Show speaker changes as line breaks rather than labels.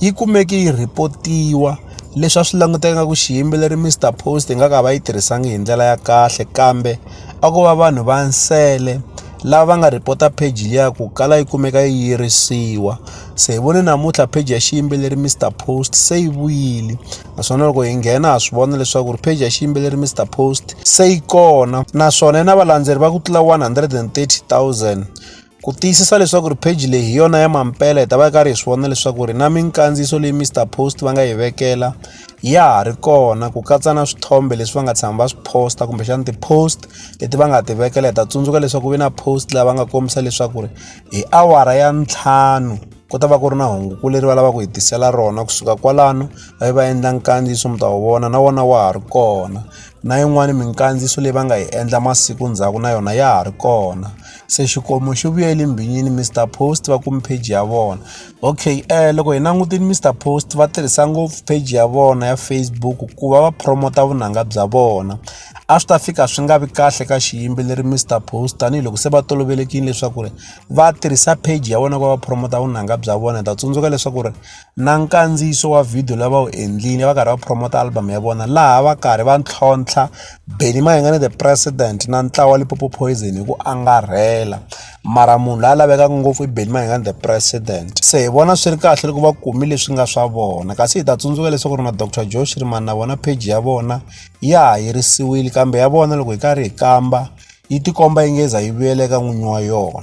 yi kumeke yi rhipotiwa leswi a swi languteka nga ku xiyimbeleri Mr Post nga ka va yi tirhisangi hi ndlela ya kahle kambe a ko va vanhu va nsele lava va nga rhipota page liya ku kala yi kumeka yi yirisiwa se hi vone namuntlha page ya xiyimbeleri Mr Post se yi vuyile naswona loko hi nghena ha swi vona leswaku ri page ya xiyimbeleri Mr Post se yi kona naswona yi na valandzeri va ku tlula 130 000 Ku tiyisisa leswaku ri page leyi hi yona ya mampela hi ta va karhi hi swi vona leswaku ri na minkandziyiso leyi Mr Post va nga yi vekela ya ha ri kona ku katsa na swithombe leswi va nga tshama va swi posta kumbexana ti-post leti va nga ti vekela hi ta tsundzuka leswaku ve na post laha va nga kombisa leswaku ri hi awara ya ntlhanu ku ta va ku ri na hunguku leri va lavaka ku hi tisela rona kusuka kwalano va yi va endla nkandziyiso mi ta wu vona na wona wa ha ri kona na yin'wani minkandziyiso leyi va nga yi endla masiku ndzhaku na yona ya ha ri kona. se xikomu xi vuyele mbhinyini Mister Post va kume page ya vona okay um loko hi langutile Mister Post va tirhisa ngopfu page ya vona ya Facebook ku va va promota vunanga bya vona a swi ta fika swi nga vi kahle ka xiyimbeleri Mister Post tanihiloko se va tolovelekile leswaku ri va tirhisa page ya vona ku va va promota vunanga bya vona hi ta tsundzuka leswaku ri na nkandziyiso wa video la va wu endlile va karhi va promote album ya vona laha va karhi va ntlhontlha Benny Mayengani the president na ntlawa wa Limpopo Poison hi ku angarhela mara munhu la lavekaka ngopfu i Benny Mayengani the president se hi vona swi ri kahle loko va kumi leswi nga swa vona kasi hi ta tsundzuka leswaku ri na Dr Joe Shirimani na vona page ya vona ya ha yirisiwile kambe ya vona loko hi karhi hi kamba yi tikomba yi ngeza yi vuyela eka n'winyi wa yona.